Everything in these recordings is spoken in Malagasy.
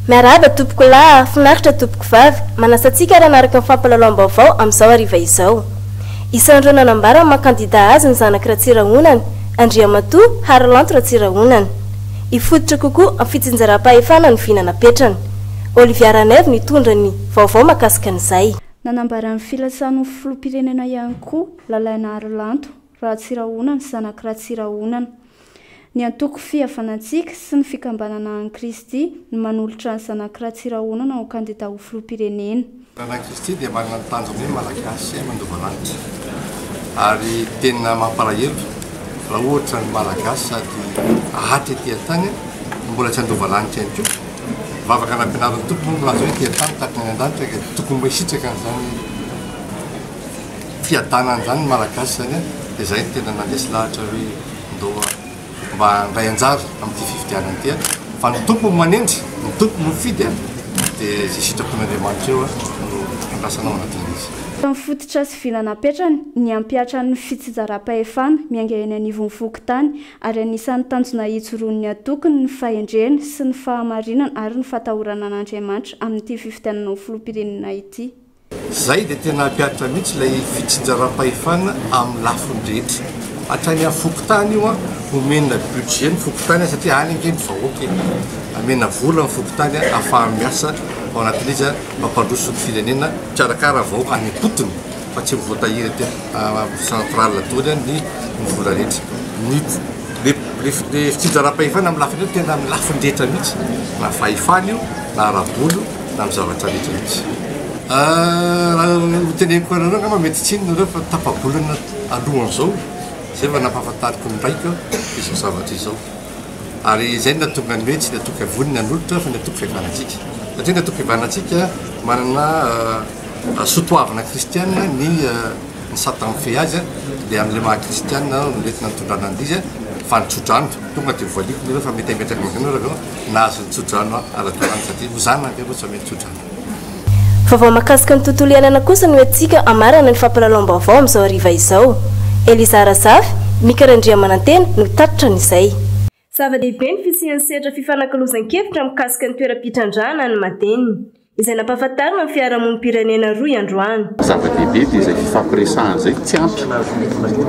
Miarahaba tompoko lahy ah, finaritra tompoko vavy, manasa antsika ary hanaraka ny fampalalaom-baovao amin'izao hariva izao. Isan'ireo nanambara ny maha kandida azy ny zanak'i Ratsirahonana, Andriamatoa Harilanto Ratsirahonana. Hifototra kokoa amin'ny fitsinjaram-pahefana ny vina napetrany. Olivia Ranaivo nitondra ny vaovao makasika an'izay. Nanambara ny filatsany ho filoham-pirenena ihany koa Lalainaharilanto Ratsirahonana, zanak'i Ratsirahonana. Ny antoko Fihavanantsika sy ny Fikambanana an'i Kristy no manolotra ny zanak'i Ratsirahonana ho kandida ho filoham-pirenena. Ny zanak'i Kristy dia manana ny tanjony hoe Malagasy mandova lanitra. Ary tena mampalahelo raha ohatra ny Malagasy sady haty aty an-tany no mbola tsy handova lanitra ihany koa. Vavaka nampianarin'ny Tompo moa milaza hoe ety an-tany tahaka any an-danitra ka dia tokony mba hisitraka an'izany fiadanana izany ny Malagasy izany an! dia izay no tena nandresy lahatra hoe ndao mba handray anjara amin'ity fifidianana ity an! fa ny Tompo no manendry, ny Tompo no mifidy an! dia izay sitrapon'Andriamanitra eo an! no andrasana ao anatin'izy. Fa ny fototra sy vina napetrany ny hampihatra ny fitsijarampahefana miainga eny anivon'ny fokontany ary anisan'ny tanjona hijoroan'ny antokony ny fahendrena sy ny fahamarinana ary ny fatahorana an'Andriamanitra amin'ity fifidianana ho filoham-pirenena ity. Izay dia tena hampiharitra mihitsy ilay fitsinjaram-pahefana amin'ny lafiny rehetra. Hatrany amin'ny fokontany io an, omena budget ny fokontany an, satria any ange ny vahoaka e! Amena vola ny fokontany an, hahafahany miasa ao anatin'izy an, mampandroso ny firenena, mpikarakara vahoaka any am-potony. fa tsy ho voatahiry aty amin'ny centrale daholo ihany ny ny vola rehetra. Ny le le le fitsinjaram-pahefana amin'ny lafiny io tena amin'ny lafiny rehetra mihitsy na fahefana io na ara-bola io na amin'ny zavatra rehetra mihitsy. Raha ho teneniko anareo angamba mety tsy inona nareo fa tapa-bolana alohan'izao izay vao nampahafantariko ny raiko izao zavatra izao. ary izay no nahatonga ny hoe tsy ny antoka-voniny nanolotra fa ny antoka-fihavanantsika, satria ny antoka-fihavanantsika manana soatoavina kristiana ny ny satana mifehy azy dia amin'ilay maha kristiana no mety nanontondrana an'izy izy fa ny tsodrano tonga dia voaliako ny hoe fa mety hametraka ny anareo nahazo ny tsodrano ara-dalàna satria hozana ange moa tsy hamely tsodrano Vaovao mahakasika ny tontolo iainana kosa no entintsika hamarana ny fampilalaom-baovao amin'izao hariva izao. Eliza Razafy, Mika Randriamanantena no tatitra an'izay. Zava-dehibe ny fisian'ny sehatra fifanakalozan-kevitra mikasika ny toeram-pitrandrahana any Madeny, izay nampahafantarina ny fiarahamonim-pirenena roa androany. Zava-dehibe dia izay fifampiresahana izay tsy ampy.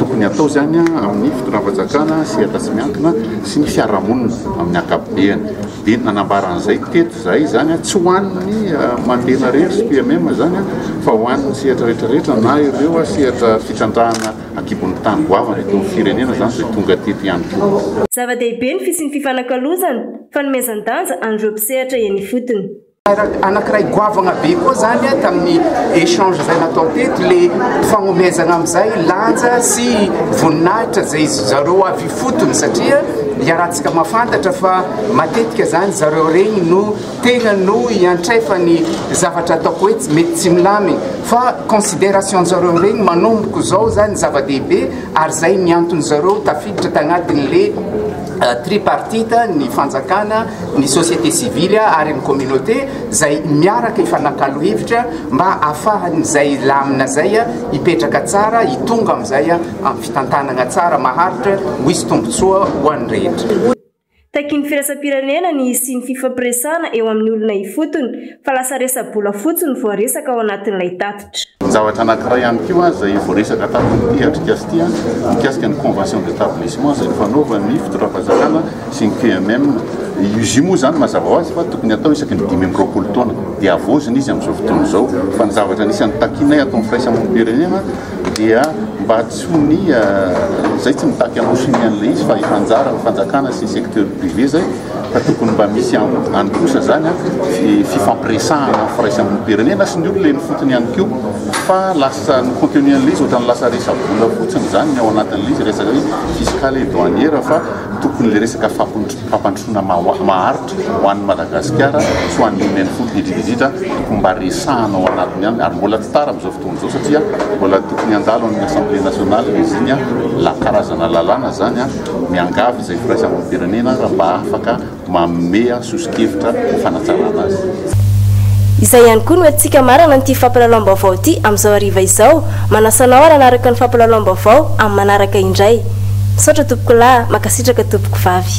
Tokony hatao izany amin'ny fitondram-panjakana, sehatra tsy miankina sy ny fiarahamonina amin'ny ankapobeny. dia nanambara an'izay teto izahay, izany tsy ho an'ny Mantena irery sy PMM izany fa ho an'ny sehatra rehetra rehetra na ireo sehatra fitrandrahana an-kibon'ny tany goavana eto amin'ny firenena izany izay tonga teto ihany koa. Zava-dehibe ny fisian'ny fifanakalozana, fanomezan-danja an'ireo mpisehatra eny ifotony. Anakiray goavagna be koa zany a tamin'ny échange zay natao teto le fagnomezagna amizay lanja sy voninahitra zay zareo avy ifotony satria iarahantsika mafantatra fa matetika zany zareo regny no tegna no iantrefany zavatra ataoko hoe tsy mety tsy milamigny fa considération zareo regny manomboko zao zany zava-dehibe ary zay ny antony zareo tafiditra tagnatin'le tripartite ny fanjakana ny société civile ary ny communauté zay miaraka ifanakalo hevitra mba afahan'izay lamina zay hipetraka tsara hitonga amizay amin'ny fitantanagna tsara maharitra ho isy tombotsoa ho an'ny rehetra. Takin'ny firaisam-pirenena ny hisian'ny fifampiresahana eo amin'ny olona ifotony, Fa lasa resa-bola fotsiny no voaresaka ao anatin'ilay tatitra. Zavatra anankiray ihany koa izay voaresaka tamin'ity atrikasa ity mikasika ny convention d'établissement izay nifanaovan'ny fitondram-panjakana sy ny QMM. Izy io moa izany mazava ho azy fa tokony hatao isaky ny dimy amby roapolo taona dia havaozina izy amin'izao fotoana izao. Fa ny zavatra anisan'ny takianay ato amin'ny firaisamonim-pirenena dia mba tsy ho ny izay tsy mitaky hamaosin'ny an'ilay izy fa efa anjaran'ny fanjakana sy ny secteur privé izay. Fa tokony mba misy any kosa zany fifampiresahana am firaisamonim-pirenena sy ny olona eny fotony ihany koa fa lasa ny contenu an'ilay izy ohatrany lasa resa-bola fotsiny zany ny ao anatin'ilay izy resaka hoe fiscale et douanière fa tokony le resaka fampandrosoana maharitra ho an'ny Madagasikara sy ho an'ny olona eny fotony indrindra indrindra tokony mba resahana ao anatiny ihany ary mbola tsy tara amin'izao fotoana izao satria mbola tokony handalo any assemblée nationale izy iny an, karazana lalàna zany an. Miangavy izay firaisam-pirenena raha mba afaka manome soso-kevitra ho fanatsarana azy. Izay ihany koa no hetsika marana an'ity fampilalaom-baovao ity amin'izao hariva izao. Manasa anao ary hanaraka ny fampilalaom-baovao amin'ny manaraka indray. Misaotra tompokolahy, mankasitraka tompokovavy.